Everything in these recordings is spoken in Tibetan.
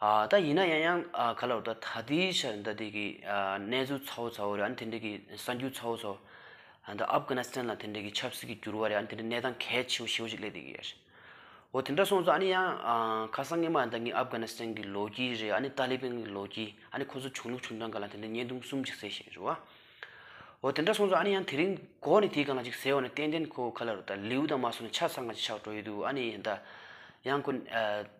ད་ཡིན་ན་ཡང་ཡང་ག་ལ་ད་ལྟའི་ཆར་ཟླ་འདི་གི་གནས་ཚུལ་ཚ་བོ་ཚ་བོ་རེད་དེ་འདྲ་གི་གསར་འགྱུར་ཚ་བོ་ཚ་བོ་ད་ཨབ་གྷ་ན་སི་ཐན་ལ་དེ་འདྲ་གི་ཆབ་སྲིད་ཀྱི་འགྱུར་བ་རེད་དེ་འདྲ་གནས་སྟངས་གལ་ཆེ་བོ་ཆེ་བོ་ཞིག་སླེབས་བསྡད་ཀྱི་ཡོད་རེད་འོ་དེ་འདྲ་སོང་ཙང་ཨ་ནི་ཡང་ཁ་སང་སྔོན་མ་ད་གིན་ཨབ་གྷ་ན་སི་ཐན་གྱི་ལོ་རྒྱུས་རེད་ཨ་ནི་ཏཱ་ལི་བན་གྱི་ལོ་རྒྱུས་ཨ་ནི་ཁོ་ཚོ་བྱུང་ལུགས་བྱུང་སྟངས་ག་ལ་དེ་འདྲ་བརྙན་ཐུང་གསུམ་ཅིག་གསལ་བཞིན་རེད་བ་འོ་དེ་འདྲ་སོང་ཙང་ཨ་ནི་ཡང་དེ་རིང་གོ་ནི་དེ་གང་ལ་ཅིག་ཟེར་བ་ནི་ཏན་ཏན་ཁོ་ག་ལ་རུ་ད་ལེའུ་དང་མ་སོང་ནི་ཆ་ཚང་ག་ཅིག་ཆགས་འགྲོ་ཡི་འདུག་ཨ་ནི་ཡང་ད་ཡང་ཁོ་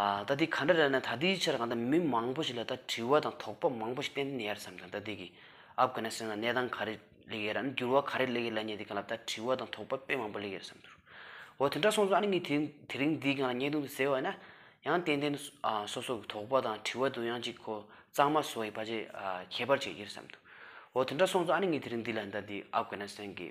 ད་ལྟའི་ག་འདྲ་རེད་ན་ད་ལྟའི་ཆར་གང་ལྟར་མི་མང་པོ་ཞིག་ལ་ད་དྲི་བ་དང་དོགས་པ་མང་པོ་ཞིག་བསྟན་ནས་ཡར་བསམ་ཙང་ད་ལྟའི་གི་ཨབ་གྷ་ནི་སི་ཐན་ལ་གནས་སྟངས་ག་རེ་ལེགས་ཡེར་ཨ་འགྱུར་བ་ག་རེ་ལེགས་ཡེར་ལ་ཉེ་དེ་གང་ལ་ད་དྲི་བ་དང་དོགས་པ་དཔེ་མང་པོ་ལེགས་ཡེར་བསམ་འདུག་འོ་དེ་འདྲ་སོང་ཙང་ཨ་ནི་ངས་དེ་རིང་འདིའི་གང་ལ་བརྙན་ཐུང་དེ་གཟེར་བ་ན་ཡང་ཏན་ཏན་སོ་སོ་གི་དོགས་པ་དང་དྲི་བ་དུ་ཡང་ཅིག་གོ་གཙང་མ་བཟོ་ཡི་བ་ཅི་ཁྱད་པར་ཅིག་ཡེར་བསམ་འདུག་འོ་དེ་འདྲ་སོང་ཙང་ཨ་ནི་ངས་དེ་རིང་འདི་ལ་ད་ལྟའི་ཨབ་གྷ་ནི་སི་ཐན་གི།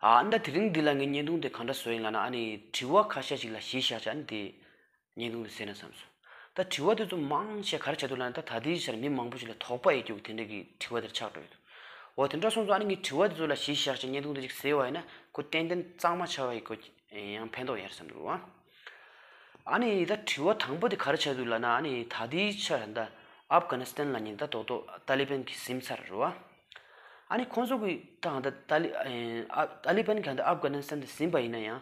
ཨ་མདའ་དེ་རིང་འདི་ལ་ངས་བརྙན་ཐུང་དེ་གང་འདྲ་བཟོ་ཡིན་ལ་ན་ཨ་ནི་དྲི་བ་ཁ་ཤས་ཤིག་ལ་གཞི་བཞག་ཅིག་ཨ་ནི་དེ་བརྙན་ཐུང་དུ་གསལ་ན་བསམ་སོང། ད་དྲི་བ་དེ་ཚོ་མང་ཆེ་ག་རེ་བྱ་འདུག་ལ་ན་ད་ད་ལྟའི་ཆར་མི་མང་པོ་ཞིག་ལ་དོགས་པ་ཡེ་རྒྱུགས་དེ་འདྲ་གི་དྲི་བ་དེར་ཆགས་འགྲོ་ཡི་འདུག་འོ་དེ་འདྲ་སོང་ཙང་ཨ་ནི་ངས་དྲི་བ་དེ་ཚོ་ལ་གཞི་བཞག་ཅིག་བརྙན་ཐུང་དེ་ཅིག་གསལ་བ་ཡིན་ན་ཁོ་ཏན་ཏན་གཙང་མ་ཆགས་ཡི་དགོས་ཀྱི། ཡང་ཕན་ཐོགས་ཡིན་བསམ་འདུག་ཨ། ཨ་ནི་ད་དྲི་བ་དང་པོ་དེ་ག་རེ་བྱས་འདུག་ལབ་ན་ཨ་ནི་ད་ལྟའི་ཆར་ད་ཨབ་གྷ་ན་སི་ཐན་ལ་ཉིན་ད་ལྟོག་ལྟོག་ཏཱ་ལི་པན་གྱིས་སིམ་ཚར་རོ་ཨ། ཨ་ནི་ཁོང་ཚོ་གི་དང་ད་ཏཱ་ལི་ཨ་ཏཱ་ལི་པན་གྱང་ད་ཨབ་གྷ་ན་སི་ཐན་དུ་སིམ་པ་ཡིན་ན་ཡང་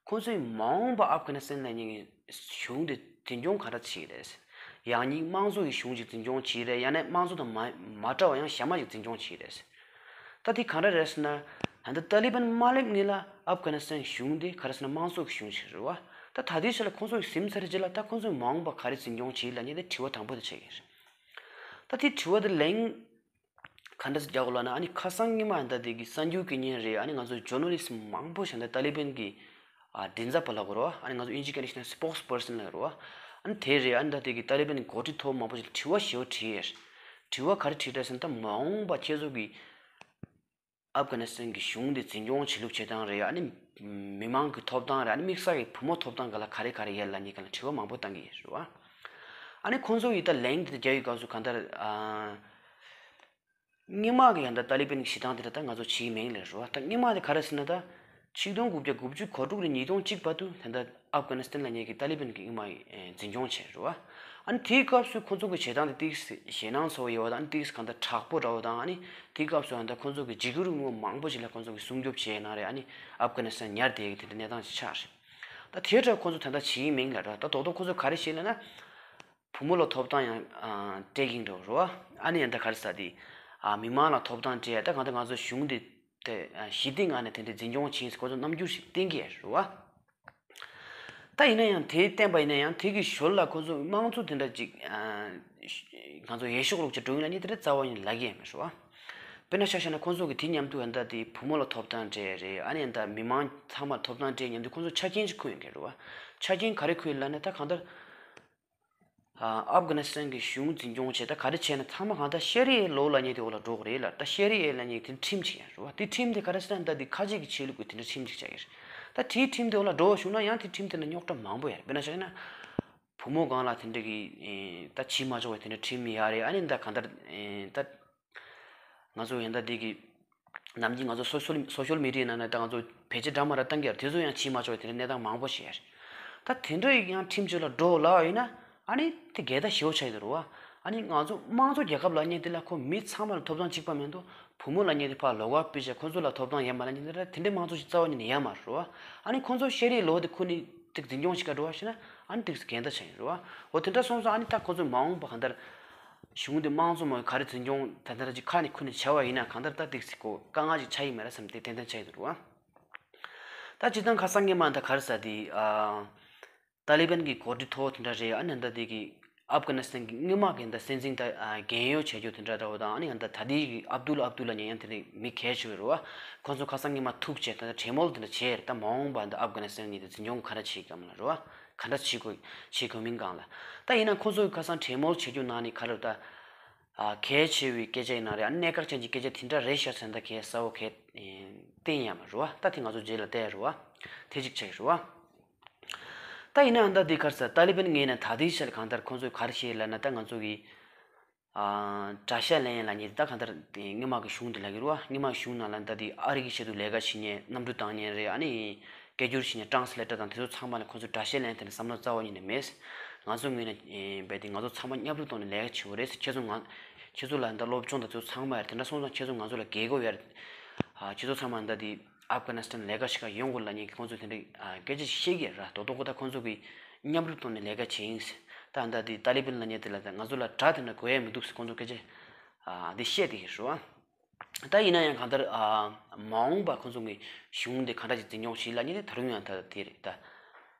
ཁོང་ཚོའི་མ་འོངས་པ་ཨབ་གྷ་ན་སི་ཐན་ལ་ཉིན་གཞུང་དེ་འཛིན་སྐྱོང་ག་འདྲ་བྱེད་ཀྱི་རེད། ཡང་སྙིང་དམངས་གཙོ་ཡི་གཞུང་ཞིག་འཛིན་སྐྱོང་བྱེད་ཀྱི་རེད་ཡང་ན་དམངས་གཙོ་དང་མ་མ་འདྲ་བ་ཡང་གཞན་མ་ཞིག་འཛིན་སྐྱོང་བྱེད་ཀྱི་རེད། ད་དེ་ག་འདྲ་རེད་ཟེར་ན། ད་ནི་ཏཱ་ལི་བན་དམར་ལེབ་གཉིས་ལ་ཨབ་གྷ་ནི་སི་ཐན་གཞུང་དེ་ག་རེ་ཟེར་ན་དམངས་གཙོ་གི་གཞུང་ཞིག་རེད་བ། ད་ད་དུས་ཆེ་ལ་ཁོང་ཚོ་ཡི་སིམ་ཚ་རེ་རྗེས་ལ་ད་ཁོང་ཚོ་མ་འོངས་པ་ག་རེ་འཛིན་སྐྱོང་བྱེད་ལ་ཉེ་དེ་དྲི་བ་དང་པོ་དེ་བྱེད་ཀྱི་རེད། ད་དེ་དྲི་བ་དེ་ལེན། ཁ་འདྲེ་རྒྱག་ལ་ན་ཨ་ནི་ཁ་སང་སྔ་མ་འདི་དེ་གི་གསར་འགྱུར་གི་ཉིན་རེད་ཨ་ནི་ང་ཚོ་ཇོ་ནོ་ལིས་མང་པོ་ཞིག་འདི་ཏཱ་ལི་བན་གི་མགྲིན་ཚབ་པ་ལ་གོ་རོ་ཨ་ནི་ང་ཚོ་ཨིན་ཇི་ཀ་ནི་ཤེ་ན Spokes Person ལ་རོ་ཨ་ནི་དེ་རེད་ཨ་ནི་འདི་དེ་གི་ཏཱ་ལི་བན་གོ་ཁྲི་ཐོ་མང་པོ་ཞིག་ལ་དྲི་བ་ཞེ་བོ་དྲིས། དྲི་བ་ག་རེ་དྲིས་དྲ་ཟིན་ད་མ་འོངས་པ་ཁྱེད་ཚོ་གི། ཨབ་གྷ་ནི་སི་ཐན་གྱི་གཞུང་འདི་འཛིན་སྐྱོང་བྱེད་ལུགས་བྱེད་སྟངས་རེད་ཨ་ནི་མི་མང་གི་ཐོབ་ཐང་རེད་ཨ་ནི་དམིགས་བསལ་གྱི་བུ་མོ་ཐོབ་ཐང་ག་ལ་ག་རེ་ག་རེ་ཡད་ལ་ནི་ག་ལ་དྲི་བ་མང་པོ་བཏང་གི་ཡོད་རེད་བ། ཨ་ནི་ཁོང་ཚོ་ཡི་ད་ལན་གྱི་རྒྱ་ཡི་སྐབས་སུ་གང་ལྟར་རྙིང་མ་གི་ཡང་ད་ཏཱ་ལི་པན་གྱི་བྱེད་སྟངས་དེ་འདྲ་ད་ང་ཚོ་བྱེད་ཀྱི་མེད་གི་རེད་རེད་བ། ད་རྙིང་མ་དེ་ག་རེ་ཟེར་ན་ད། ཆིག་སྟོང་དགུ་བརྒྱ་དགུ་བཅུ་གོ་དྲུག་ལོའི་ཉིས་སྟོང་གཅིག་པ་དུ་ད་ལྟ་ཨབ་གྷ་ནི་སི་ཐན་ལ་ཉེ་གི་ཏཱ་ལི་བན་གྱིས་དབྱིན་དམག་འཛིན་སྐྱོང་བྱས་འགྲོ་བ། ཨ་ནི་དེའི་སྐབས་སུ་ཁོ་ཚོ་གི་བྱེད་སྟངས་དེ་ཏིག་སི་ཞེད་སྣང་ཚོ་བོ་ཡོད་དང་ཏིག་སི་གང་ལྟར་དྲག་པོ་འདྲ་བོ་དང་ཨ་ནི་དེའི་སྐབས་སུ་ཨ་ནི་ཁོ་ཚོ་གི་འཇིགས་རུས་དངོས་མང་པོ་ཞིག་ལ་ཁོ་ཚོ་གི་སྲུང་སྐྱོབ་བྱས་གནང་རེད་ཨ་ནི་ཨབ་གྷ་ནི་སི་ཐན་ཉར་དེའི་གི་དེ་འདྲའི་གནས་སྟངས་ཤིག་ཆགས་རེད། ད་དེའི་སྐྲག་ཁོ་ཚོ་ད་ལྟ་ཇིའི་མིང་ལ་འགྲོ་ད་དོག་དོག་ཁོ་ཚོ་ག་རེ་བྱེད་ལེ་ན། བུ་མོ་ལ་ཐོབ་ཐང་ཡང་སྤྲད་གིན་འགྲོ་རོ། ཨ་ནི་ཡང་ད་ག་རེ་ཟ་དེ། མི་མང་ལ་ཐོབ་ཐང་སྤྲད་ད་གང་ལྟར་ང་ཚོ་གཞུང་དེ། ཞི་བདེའི་ངང་ནས་དེ་འདྲའི་འཛིན་སྐྱོང་བྱེད་སྐོར་གྱི་རྣམ་འགྱུར་ཞིག་གཏན་འཁེལ་བྱས་བྱུང་བ། ད་ཡིན་ན་ཡང་དེ་བསྟན་པ་ཡིན་ན་ཡང་དེ་གི་ཞོར་ལ་ཁོ་ཚོས་དམངས་གཙོ་དེ་འདྲ་ཅིག་ང་ཚོ་ཡེ་ཤུགས་ལོག་སྤྱོད་སྒྲུང་ཡིན་ན་ནི་དེ་འདྲའི་རྩ་བ་ཡིན་ལགས་ཀྱི་མི་ཤོག། དཔེར་ན་ཤ་ཤ་ན་ཁོ་ཚོ་གི་དེ་མཉམ་དུ་ཨ་མདའ་དེའི་བུ་མོ་ལ་ཐོབ་ཐང་སྤྲད་རེད་ཨ་ནེ་ད་མི་མང་ཚང་མར་ཐོབ་ཐང་སྤྲད་མཉམ་དུ་ཁོ་ཚོ་ཆ་རྐྱེན་ཅིག་འཁུར་ཡོང་གི་རེད་བ། ཆ་རྐྱེན་ག་རེ་འཁུར་ཡོད་ལ་ནི་ད་གང་ལྟར། ཨབ་གྷ་ནི་སི་ཐན་གྱི་གཞུང་འཛིན་སྐྱོང་བྱས་ད་ག་རེ་བྱས་ན་ཚང་མ་གང་ལྟར་ཤེ་རི་ཨེ་ལོ་ལ་ཉེ་དེ་འོ་ལ་འགྲོ་གི་རེད་ལ་ད་ཤེ་རི་ཨེ་ལ་ཉེ་དེ་ཁྲིམས་གཅིག་ཡང་ཞུ་བ་དེ་ཁྲིམས་དེ་ག་རེ་སི་ཐན་ད་དེ་ཁ་ཅིག་གི་ཆེད་ལུགས་གི་དེ་འདྲ་ཁྲིམས་གཅིག་བྱ་གི་རེད་ད་དེའི་ཁྲིམས་དེ་འོ་ལ་འགྲོ་བ་བྱུང་ན་ཡང་དེ་ཁྲིམས་དེ་ན་རྙོག་དྲ་མང་པོ་ཡ་རེད་དཔེར་ན་བྱ་གི་ན་བུ་མོ་གང་ལ་དེ་འདྲ་གི་ད་བྱིས་མ་ཆོག་པའི་དེ་འདྲ་ཁྲིམས་ཡ་རེད་ཨ་ནི་ད་གང་ལྟར་ད་ང་ཚོ་འི་ཟླ་འདི་གི་ནམ་གྱི་ང་ཚོ་སོ་ཤོལ་མི་རིགས་ནང་ནས་ད་ང་ཚོ་བེད་སྤྱད་སྦྲག་མ་ར་བཏང་གི་ཡ་ར་དེ་ཚོ་ཡང་ཕྱིན་མ་ཆོག་དེ་འདྲའི་གནས་སྟངས་མང་པོ་ཞིག་ཡ་རེད། ད་དེ་འདྲ་ཡིག་ཡང་ཁྲིམས་གཅོད་ལ་འགྲོ་ལ་ཡིན་ན་ཨཱ་ནི་དེ་འགལ་ཟླ་ཞི་བོ་ཆགས་ཡོད་དུ་རུ་ཨཱ་ནི་ང་ཚོ་དམངས་གཙོ་རྒྱལ་ཁབ་ལ་གཉེར་དེ་ལ་ཁོ་མི་ཚང་མ་ལ་ཐོབ་ཐང་གཅིག་པ་མེད་འདུག་བུ་མོ་ལ་གཉེར་དེ་ཕ་ལོག་ག་སྤུད་བྱས་ཁོ་ཚོ་ལ་ཐོབ་ཐང་ཡ་མ་ལ་གཉེར་དེ་འདྲའི་དམངས་གཙོ་ཞིག་རྩ་བ་ཉིད་ནས་ཡ་མ་རུ་ཨཱ་ནི་ཁོ་ཚོ་ཤེས་རིག་ལོ་དེ་ཁོ་ནི་དེ་འཛིན་སྐྱོང་བྱེད་ག་རུ་ཨཱ་ཤེ་ན་ཨཱ་ནི་དེ་འགལ་ཟླ་ཆགས་ཡོད་རུ་ཨཱ་འོ་དེ་འདྲ་སོང་སོང་ཨཱ་ནི་ད་ཁོ་ཚོ་མ་འོངས་པ་ག་འདྲ་གཞུང་དེ་དམངས་གཙོ་མ་ཡིན་ག་རེ་འཛིན་སྐྱོང་ད་ལྟར་གྱི་ཁ་ནས་ཁུར་ནས་བྱ་བ་ཡིན་ན་གང་ལྟར་ད་འདེགས་སྲིད་གོ་དཀའ་ངལ་ཞིག་ཆགས་ཡི་མེད་ར་བསམ་སྟེ་ཏན་ཏན་བྱ་ཡི་འདུག་རོ། ད་སྤྱི་ཐང་ཁ་སང་གི་མ་ད་ག་རེ་ཟ་དེ། ཏཱ་ལི་པན་གྱི་གོ་སྒྲིག་ཐོག་དེ་འདྲ་རེད་ཨ་ནི་ད་དེ་གི། ཨབ་གྷ་ནི་སྟན་གྱི་དངོས་དམག་གི་ད་སྲིད་འཛིན་ད་རྒན་ཡོལ་བྱེད་རྒྱུ་དེ་འདྲ་འདྲ་བོ་དང་ཨ་ནི་ད་ད་དེ་གི་ཨབ་དུལ་ཨབ་དུལ་ལ་ཉན་ཡང་དེ་ནི་མི་གལ་ཆེ་བའི་རུ་བ། ཁོང་ཚོ་ཁ་སང་གི་མ་ཐུག་བྱས་ད་ད་བྲེལ་མོལ་དེ་འདྲ་བྱས་རེད་ད་མ་འོངས་པ་ད་ཨབ་གྷ་ནི་སྟན་གྱི་ད་འཛིན་སྐྱོང་ག་རེ་བྱེད་ཀྱི་ཨ་མ་ལ་རུ་བ། ག་འདྲ་བྱེད་དགོས་བྱེད་དགོས་མིན་གང་ལ་བལྟ། ཡིན་ན་ཁོང་ཚོ་གི་ཁ་སང་གྲལ་མོལ་བྱེད་རྒྱུ་ནང་ནས་ག་རེ་བལྟ། གལ་ཆེ་བའི་སྐད་ཆ་ཡིན་ན་རེད་ཨ་གནད་འགག་ཅན་གྱི་སྐད་ཆ་དེ་འདྲ་རེད་ཤ་ཚ་འདི་གས་ས་བོ་གས། བསྟན་ཡ་མ་རུ་བ་ལྟ་དེ་ང་ཚོ་རྗེས་ལ་བལྟ་ཡ་རུ་བ། ཐེ་གཅིག་ཆ་ཡ་རུ་བ། ལྟ་ཡིན་ན་ཨ་མདའ་དེ་གར་ས་ཏཱ་ལི་བན་ངས་ན་ད་ལྟའི་ཆར་གང་ལྟར་ཁོང་ཚོ་གར་ཤེས་ལ་ན་ད་ང་ཚོ་གི། བཀྲ་ཤིས་ལན་ཡན་ལགས་ཉིད་ད་ག་འདྲ་སྔོན་མ་གི་གཞུང་དེ་ལ་གི་རུ་བ་སྔོན་མ་གི་གཞུང་ནང་ལ་ད་དེ་ཨ་རིག་གི་ཆེད་དུ་ལས་ཀ་བྱེད་ཉེན་གནམ་གྲུ་བཏང་ཉེན་རེད་ཨ་ནི་སྐད་སྒྱུར་བྱེད་ཉེན་ཏྲང་སི་ལེ་ཏར་དང་དེ་ཚོ་ཚང་མ་ལ་ཁོ་ཚོ་བཀྲ་ཤིས་ལན་ཐད་ནས་བསམ་བློ་རྩ་བ་ཉིད་ནས་མེད་ང་ཚོ་ངོས་ནས་རྦད་དེ་ང་ཚོ་ཚང་མ་མཉམ་རུབ་གཏོང་ནས་ལས་ཀ་བྱེད་དགོས་རེད་ཁྱེད་ཚོ་ང་ཁྱེད་ཚོ་ལ་ད་སློབ་སྦྱོང་དང་དེ་ཚོ་ཚང་མ་ཡར་དེ་འདྲ་སོང་ཙང་ཁྱེད་ཚོ་ང་ཚོ་ལ་དགེ་གོ་ཡར་ཁྱེད་ཚོ་ཚང་མ་ད་དེ Afghanistan ལས་ཀ་བྱེད་ཁར་ཡོང་དགོས་ལ་ཉེ་གི་ཁོང་ཚོས་དེ་འདྲའི་སྐད་ཆ་བཤད་གི་ར་དོ་དོ་ཁོ་ད་ཁོང་ཚོ་གི་མཉམ་རུབ་ཐོག་ནས་ལས་ཀ་བྱེད་ཨིངས། ད་ཨ་མདའ་དེ་ཏཱ་ལི་བན་ལ་ཉེ་དེ་ལ་ད་ང་ཚོ་ལ་དྲ་དེ་འདྲ་གོ་ཡ་མི་འདུག་ཟེར་ཁོང་ཚོ་སྐད་ཆ་དེ་བཤད་དེ་ཤོད་ཨ། ད་ཡིན་ན་ཡང་གང་ལྟར་མ་འོངས་པ་ཁོང་ཚོ་གི་གཞུང་དེ་གང་འདྲ་ཞིག་འཛིན་སྐྱོང་བྱེད་ལ་ཉེ་དེ་ད་རུང་ཡང་ད་དེ་རེད་ད།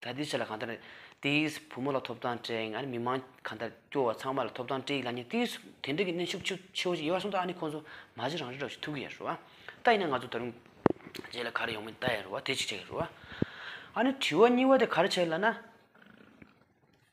ད་ལྟའི་ཆར་ལ་གང་ལྟར་ཏེ་ཡིས་བུ་མོ་ལ་ཐོབ་ཐང་སྤྲད་ཡིན་ཨ་རི་མི་མང་གང་ལྟར་སྐྱོ་བ་ཚང་མ་ལ་ཐོབ་ཐང་སྤྲད་ཡིན་ལ་ནི་ཏེ་ཡིས་དེ་འདྲ་གི་གནས་ཤུགས་ཆེ་ཆེ་བོ་ཞིག་ཡོད་པ་སོང་ད་ནི་ཁོང་ཚོ་མ་གཞི་རང་རེ་རོགས་ཞིག་ཐུག་གི་ཡ་རུ་ཨ་ད་ཡིན་ན་ང་ཚོ་ད་རུང་རྗེས་ལ་ག་རེ་ཡོང་མིན་ལྟ་ཡ་རུ་ཨ་དེ་གཅིག་བྱ་ཡ་རུ་ཨ་ཨ་ནི་དྲི་བ་གཉིས་བ་དེ་ག་རེ་བྱེད་ལ་ན།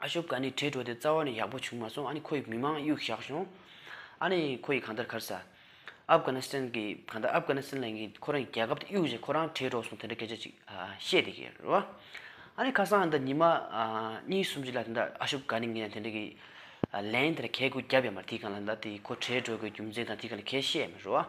ཨ་ཤོ་ཀ་ནི་གྲོས་གྲོལ་ཏེ་རྩ་བ་ནས་ཡག་པོ་བྱུང་མ་སོང་ཨ་ནི་ཁོ་ཡི་མི་མང་གཡུག་བཞག་བྱུང། ཨ་ནི་ཁོ་ཡི་གང་ལྟར་གར་ས། ཨབ་གྷ་ན་སི་ཐན་གི་གང་ལྟར་ཨབ་གྷ་ན་སི་ཐན་ལ་ངས་ཁོ་རང་གི་རྒྱལ་ཁབ་ཏུ་གཡུག་བཞིན་ཁོ་རང་གྲོས་གྲོལ་སོང་དེ་འདྲ་སྐད་ཆ་ཅིག་བཤད་དེ་གི་རེད། ཨ་ནི་ཁ་སང་འདི་ཉི་མ་གཉིས་གསུམ་བཞི་ལ་དེ་འདྲ་ཨ་ཤོ་ཀ་ནི་ངས་དེ་འདྲ་གི་ལན་དེ་འདྲ་གད་སྐུ་བརྒྱབ་ཡ་མ་རེད་དེ་གང་ལ་དེ་ཁོ་གྲོས་གྲོལ་དགོས་རྒྱུ་མཚན་དང་དེ་ག་ལ་གས་བཤད་མི་རུང།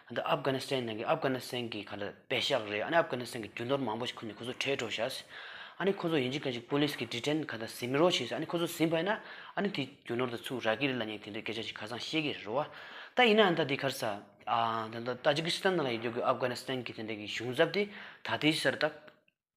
འདི་ཨབ་གྷ་ནི་སི་ཐན་ནང་གི་ཨབ་གྷ་ནི་སི་ཐན་གི་ག་ལ་བེ་ཤག་རེད་ཨ་ནི་ཨབ་གྷ་ནི་སི་ཐན་གི་རྒྱུ་ནོར་མང་པོ་ཞིག་ཁོ་ནས་ཁོ་ཚོ་ཁྲལ་སྤྲོད་བྱས། ཨ་ནི་ཁོ་ཚོ་ཡིན་གཅིག་ག་ཅིག་པུ་ལིས་ཀྱི་འདྲི་དྲན་ག་ད་ཟིན་མི་རོ་བྱས་ཨ་ནི་ཁོ་ཚོ་ཟིན་བས་ན་ཨ་ནི་དེ་རྒྱུ་ནོར་དེ་ཚུགས་ར་གི་རི་ལ་ཉེ་དེ་འདྲའི་སྐད་ཆ་ཞིག་ཁ་སང་བཤད་གི་རེད་རོ་ད་ཡིན་ནའང་ད་དེ་ཁར་ས་ཨ་ད་ད་ཏཱ་ཇི་ཀི་སི་ཐན་ནང་ལ་ཡོད་རྒྱུ་གི་ཨབ་གྷ་ནི་སི་ཐན་གི་དེ་འདྲའི་གི་གཞུང་ཚབ་དེ་ད་དེའི་སར་ད།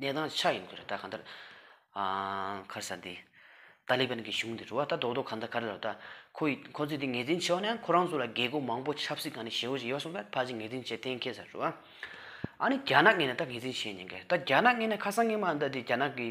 གནས་དང་ཆ་ཡིན་ཁུལ་རེད་ད་གང་ལྟར། ཁར་ས་འདི། ཏཱ་ལི་བན་གྱི་གཞུང་འདི་རུ་བ་ད་རྡོག་རྡོག་གང་ལྟར་ག་རེ་ལ་ད། ཁོ་ཡི་ཁོ་ཚོས་འདི་ངེས་འཛིན་བྱས་བ་ནི་ཡང་ཁོ་རང་ཚོ་ལ་རྒས་རྒུ་མང་པོ་ཆབ་སྲིད་གང་ནས་ཞེ་བོ་ཞིག་ཡོད་སོང་བས་ཕ་ཅིག་ངེས་འཛིན་བྱེད་གཏན་འཁེལ་ས་རུ་བ། ཨ་ནི་རྒྱ་ནག་ངེས་ནས་ད་ངེས་འཛིན་བྱས་ཉེན་ཁ་རེད་ད་རྒྱ་ནག་ངེས་ནས་ཁ་སང་ངེས་མ་འདི་འདི་རྒྱ་ནག་གི།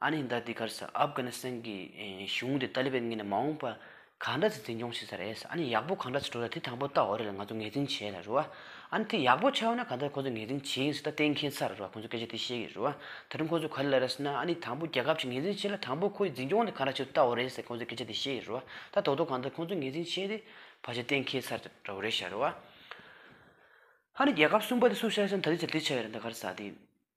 ཨ་ནེ་ཟླ་འདི་གར་སཱ་ཨབ་གྷ་ནི་སཱན་གི་གཞུང་དེ་ཏཱ་ལི་བན་གྱི་ནས་མ་འོངས་པ་གང་འདྲ་ཚེ་འཛིན་སྐྱོང་བྱེད་ས་རེད་ཨ་ནེ་ཡག་པོ་གང་འདྲ་ཚེ་འགྲོ་ས་དེ་དང་པོ་ཏཱ་འོ་རེད་ལ་ང་ཚོ་ངེས་འཛིན་བྱེད་ལ་རུ་ཨ་ནེ་དེ་ཡག་པོ་ཆའོ་ན་གང་འདྲ་ཁོ་ཚོ་ངེས་འཛིན་བྱེད་ཡིན་ས་ད་གཏན་མཁྱེན་ཚར་རུ་ཨ་ཁོ་ཚོ་སྐད་ཆ་དེ་ཤེས་གི་རུ་ཨ་ད་དུང་ཁོ་ཚོ་ག་ལེ་ལ་ར་ས་ན་ཨ་ནེ་དང་པོ་རྒྱལ་ཁབ་ཅིག་ངེས་འཛིན་བྱེད་ལ་དང་པོ་ཁོ་ཡི་འཛིན་སྐྱོང་དེ་གང་འདྲ་བྱེད་དུ་ཏཱ་འོ་རེད་ས་ཁོ་ཚོ་སྐད་ཆ་དེ་ཤེས་གི་རུ་ཨ་ད་རྡོག་རྡོག་གང་འདྲ་ཁོ་ཚོ་ངེས་འཛིན་བྱེད་དེ་བ་ཞེ་གཏན་མཁྱེན་ཚར་ར་འུ་རེད་ཤ་རུ་ཨ་ཨ་ནེ་རྒྱལ་ཁབ་གསུམ་པ་དེ་སུ་ཤ་ས་ན་ད་དེ་ཆ་དེ་ཆ་ཡོད་ར་འདི་གར་སཱ་དེ།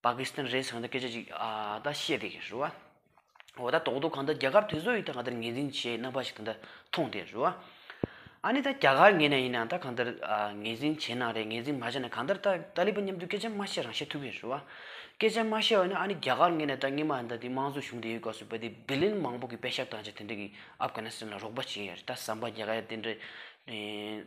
པ་ཀི་སི་ཐན་རེད་ཟེར་གང་འདྲ་སྐད་ཆ་ཅིག་ཨ་ད་བཤད་དེ་རེད་རོ། འོ་ད་དོག་དོག་གང་འདྲ་རྒྱ་གར་དེ་ཚོ་ཡིས་ད་གང་འདྲ་ངེས་འཛིན་བྱས་རྣམ་པ་ཞིག་ད་འདྲ་མཐོང་དེ་རེད་རོ། ཨ་ནི་ད་རྒྱ་གར་ངེས་ན་ཡིན་ན་ད་གང་འདྲ་ངེས་འཛིན་བྱས་ན་རེད་ངེས་འཛིན་མ་བྱས་ན་གང་འདྲ་ད་ཏཱ་ལི་པན་མཉམ་དུ་སྐད་ཆ་མ་བཤད་རང་བཤད་ཐུབ་ཀྱི་རེད་རོ། སྐད་ཆ་མ་བཤད་འོ་ན་ཨ་ནི་རྒྱ་གར་ངེས་ན་ད་སྔས་མ་ད་དེ་དམངས་གཙོ་གཞུང་དེ་ཡོད་སྐབས་སུ་བལ་དེ་བི་ལན་མང་པོ་གི་དཔེ་ཞབས་དང་ཅིག་དེ་འདྲ་གི་ཨབ་གྷ་ན་སི་ཐན་ལ་རོགས་པ་བྱས་ཡོད་རེད་ད་ཟམ་པ་རྒྱ་གར་ཡ་དེ་འདྲ།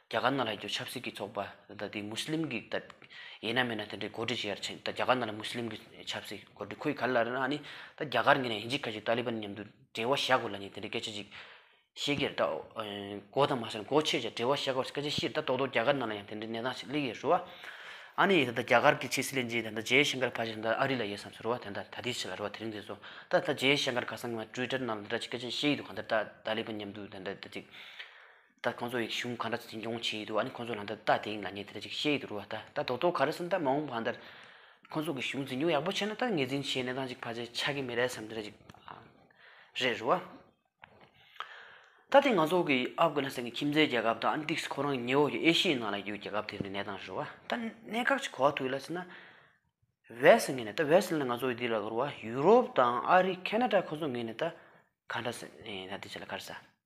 རྒྱ་གར་ནང་ལ་ཡོད་པའི་ཆབ་སྲིད་ཀྱི་ཚོགས་པ་དང་དེའི་མུས་ལིམ་གྱི་ཡིན་ན་མིན་ན་དེ་འདྲའི་གོ་སྒྲིག་བྱས་ཡར་ཕྱིན་ད་རྒྱ་གར་ནང་ལ་མུས་ལིམ་གྱི་ཆབ་སྲིད་གོ་སྒྲིག་ཁོའི་ག་ལ་རེད་ཨཱ་ནི་ད་རྒྱ་གར་ངོས་ནས་ཨིན་ཇི་ཁ་ཆེ་ཏཱ་ལི་བཱན་མཉམ་དུ་འབྲེལ་བ་བྱ་དགོས་ལ་ནི་དེ་འདྲའི་སྐད་ཆ་ཅིག་བཤད་ཀྱི་རེད་གོ་དང་མ་བྱས་ན་གོ་ཆེ་ཆེ་འབྲེལ་བ་བྱ་དགོས་སྐད་ཆ་བཤད་ད་ཏོག་ཏོག་རྒྱ་གར་ནང་ལ་ཡང་དེ་འདྲའི་གནས་སྟངས་ཤིག་གླེང་ཡོད་ཟེར་བ་ཨཱ་ནི་ད་རྒྱ་གར་གྱི་ཕྱི་སྲིད་བློན་ཆེན་དེ་ད་ཇེ་ཤང་ཀར་བྷ་ཇེ་ད་ཨ་རི་ལ་ཡོད་བསམ་ཟེར་བ་དེ་ད་ད་ལྟའི་ཆ་ལ་རེད་བ་དེ་རིང་དེ་ཚོ་ད་ད་ཇེ་ཤང་ཀར་ཁ་སང་ང་ཀྲུའི་ཀྲར་ནང་ལ་དེ་འདྲ་ཅིག་སྐད་ཆ་བཤད་ཡི་འདུག་ག་འདིར་ད་ཏཱ་ལི་བཱན་མཉམ་དུ་དེ་འདྲ་དེ་ཅིག་ད་ཁོང་ཚོ་ཡིག་གཞུང་ག་འདྲ་འཛིན་སྐྱོང་བྱེད་ཡི་འདུག་ཨ་ནི་ཁོང་ཚོ་ལ་འདི་ལྟ་དེ་འདྲ་ངས་དེ་འདྲ་ཅིག་བཤད་ཡི་འདུག་རུ་བ་ད་ལྟ་རྡོག་རྡོག་ག་རེ་སུ་འདྲ་མ་འོངས་བ་འདིར་ཁོང་ཚོ་གི་གཞུང་འཛིན་སྐྱོང་ཡག་པོ་བྱས་ན་ད་ངས་འཛིན་བྱེད་གནས་སྟངས་ཅིག་ཕར་ཆེར་ཆགས་ཀྱི་མེད་རེད་བསམ་དེ་འདྲ་ཅིག་རེད་རུ་བ། ད་དེ་ང་ཚོ་གི་ཨབ་གྷ་ན་སན་གི་ཁྱིམ་མཚེས་རྒྱལ་ཁབ་དང་ཨ་ཏིག་སི་ཁོ་རང་ཉེ་འོག་གི་ཨེ་ཤི་ཡའི་ནང་ལ་ཡོད་རྒྱལ་ཁབ་དེ་འདྲའི་གནས་སྟངས་རུ་བ། ད་གནད་འགག་ཅིག་གོ་བ་ཐུག་ཡོད་ལ་ཟེར་ན་བེ་སི་ངེས་ནས་ད་བེ་སི་ལ་ང་ཚོ་ཡི་འདི་ལ་རུ་བ་ཡུ་རོབ་དང་ཨ་རི་ཁེ་ན་ཏྲ་ཁོ་ཚོ་ངེས་ནས་ད་ག་འདྲ་ཟེར་ན་འདི་བྱས་ལ་ག་རེ་ཟ།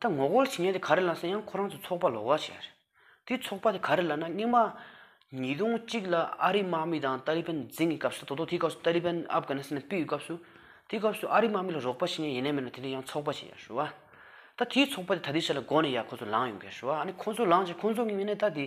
ད་ངོ་རྒོལ་བྱེད་མཁན་དེ་ག་རེ་ལ་ཟེར་ཡང་ཁོ་རང་ཚོའི་ཚོགས་པ་ལོག་ཁ་ཤས་རེད། དེའི་ཚོགས་པ་དེ་ག་རེ་ལ་ན་སྙིང་མ་ཉིས་སྟོང་གཅིག་ལ་ཨ་རིའི་དམག་མི་དང་ཏཱ་ལི་བན་འཛིང་གི་སྐབས་སུ་དོ་དོ་དེའི་སྐབས་སུ་ཏཱ་ལི་བན་ཨབ་གྷ་ནི་སི་ནི་སྤིའི་སྐབས་སུ། དེའི་སྐབས་སུ་ཨ་རིའི་དམག་མི་ལ་རོགས་པ་བྱེད་མཁན་ཡེ་ནས་མེད་ན་དེ་འདྲའི་ཡང་ཚོགས་པ་ཞིག་ཡར་ཞུ་བ། ད་དེའི་ཚོགས་པ་དེ་ད་ལྟའི་ཆ་ལ་མགོ་ནས་ཡར་ཁོ་ཚོ་ལངས་ཡོང་གི་ཡར་ཞུ་བ་ཨ་ནི་ཁོ་ཚོ་ལངས་རྗེས་ཁོ་ཚོ་གཉིས་མེད་ནས་ད་དེ།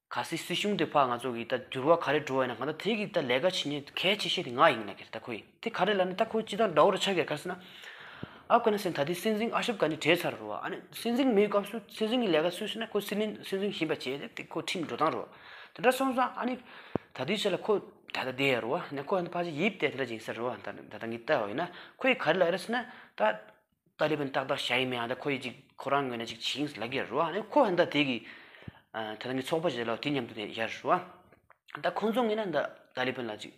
ག་སྲིད་སྲིད་གཞུང་དེ་ཕ་ང་ཚོ་གི་ད་འགྱུར་བ་ག་རེ་འགྲོ་བ་ཡིན་ན་གང་ལྟར་དེ་གི་ད་ལས་ཀ་བྱེད་ནི་གལ་ཆེ་ཤོས་དེ་ང་ཡིན་ན་གལ་ད་ཁོ་ཡིན་དེ་ག་རེ་ལ་ནི་ད་ཁོ་ཅི་དང་འདྲ་བོ་རེ་ཆགས་ཀྱི་ག་སྲིད་ན། ཨབ་གྷ་ནི་སི་ཐན་ད་ལྟའི་སྲིད་འཛིན་ཨ་ཤབ་གྷ་ནི་བྲེལ་ཚར་རོ་ཨ་ནི་སྲིད་འཛིན་མེའི་སྐབས་སུ་སྲིད་འཛིན་གི་ལས་ཀ་སུས་བྱེད་ན་ཁོ་སྲིད་འཛིན་སྲིད་འཛིན་བཞིན་པ་བྱས་ཏེ་དེ་ཁོ་ཁྲིམས་འགྲོ་སྟངས་རོ་དེ་འདྲ་སོང་ཙང་ཨ་ནི་ད་ལྟའི་ཆ་ལ་ཁོ་ད་ལྟ་བསྡད་ཡ་རོ་ཨ་ནི་ཁོ་ད་ཕ་ཆ་ཡིབ་སྟེ་དེ་འདྲ་བྱིན་ཟེར་རོ་ཨ་ད་ད་ད་ངི་ད་ཡིན་ན་ཁོ་ཡི་ག་རེ་ལ་ཨེ་རེད་སྲིད་ན་ད། ཏཱ་ལི་བན་ཏག་ཏག་བྱ་ཡི་མེད་ཨ་ད་ཁོ་ཡིས་ཅིག་ཁོ་རང་ངོས་ནས་ཅིག་བྱིན་གྱིས་ལ་གིར་རོ་ཨ་ནི་ཁོ་ཨ་ད་དེ་གི་ད་ང་ཚོགས་པ་བྱས་ལ་དེ་མཉམ་དུ་ཡར་རོ་ཨ་ད་ཁོ་ཚོ་ངོས་ནས་ད་ཏཱ་ལི་བན་ལ་ཅིག་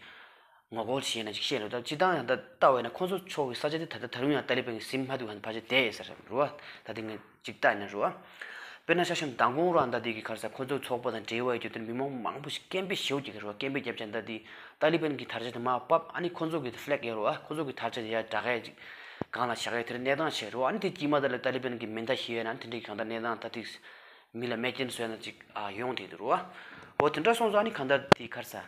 ངོ་རྒོལ་བྱས་ན་ཅིག་བཤད་རོ་ད་སྤྱི་བཏང་ཨ་ད་ལྟ་བས་ན་ཁོ་ཚོ་ཕྱོགས་ཀྱི་ས་ཆ་དེ་ད་ད་དུང་ཡང་ཏཱ་ལི་བན་གྱི་སེམས་ཧ་ཏུ་ཧ་ད་བར་བྱས་ཏེ་ཟེར་རོ་ཨ་ད་དེ་ངས། ཅིག་བལྟ་ནི་རུ། དཔེར་ན་ཤ་ཞེན་མདང་དགོང་རོ་ཨ་མདའ་དེ་གི་ཁར་ས་ཁོ་ཚོའི་ཚོགས་པ་དང་འབྲེལ་བའི་རྒྱུ་དོན་མི་མང་མང་པོ་ཞིག་སྐད་འབོད་ཞེའུ་རྒྱག་གི་རུ་སྐད་འབོད་བརྒྱབ་ཀྱང་མདའ་དེས་ཏཱ་ལི་བན་གི་དར་ཆ་དེ་མ་བབས་ཨ་ནི་ཁོ་ཚོ་གི Flag ཡར་རུ་ཨ་ཁོ་ཚོ་གི་དར་ཆ་དེ་ཡར་བསྒྲག་གས་ཅིག་གང་ལ་བྱ་གས་དེར་གནས་སྟངས་བྱས་རུ་ཨ་ནི་དེ་དཀྱིས་མ་དར་ལ་ཏཱ་ལི་བན་གི་མེ་མདའ་ཞེས་ན་དེ་འདྲའི་གང་ལྟར་གནས་སྟངས་ད་ཐིག་མི་ལ་མེ་སྐྱེན་བཟོས་ན་ཅིག་ཡོང་དེ་དུ་རུ་ཨོ་དེ་འདྲ་སོང་ཚོ་ཨ་ནི་གང་ལྟར་དེ་གི་ཁར་ས།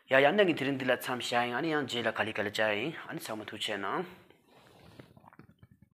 ཡ་ཡང་ནད་ཀྱི་དེ་རིང་འདི་ལ་མཚམས་བཞག་ཨང་ཨ་ནི་ཡང་རྗེས་ལ་ག་ལི་ག་ལི་བྱ་ཨང་ཨ་ནི་ཚང་མ་ཐུགས་ཆེ་གནང།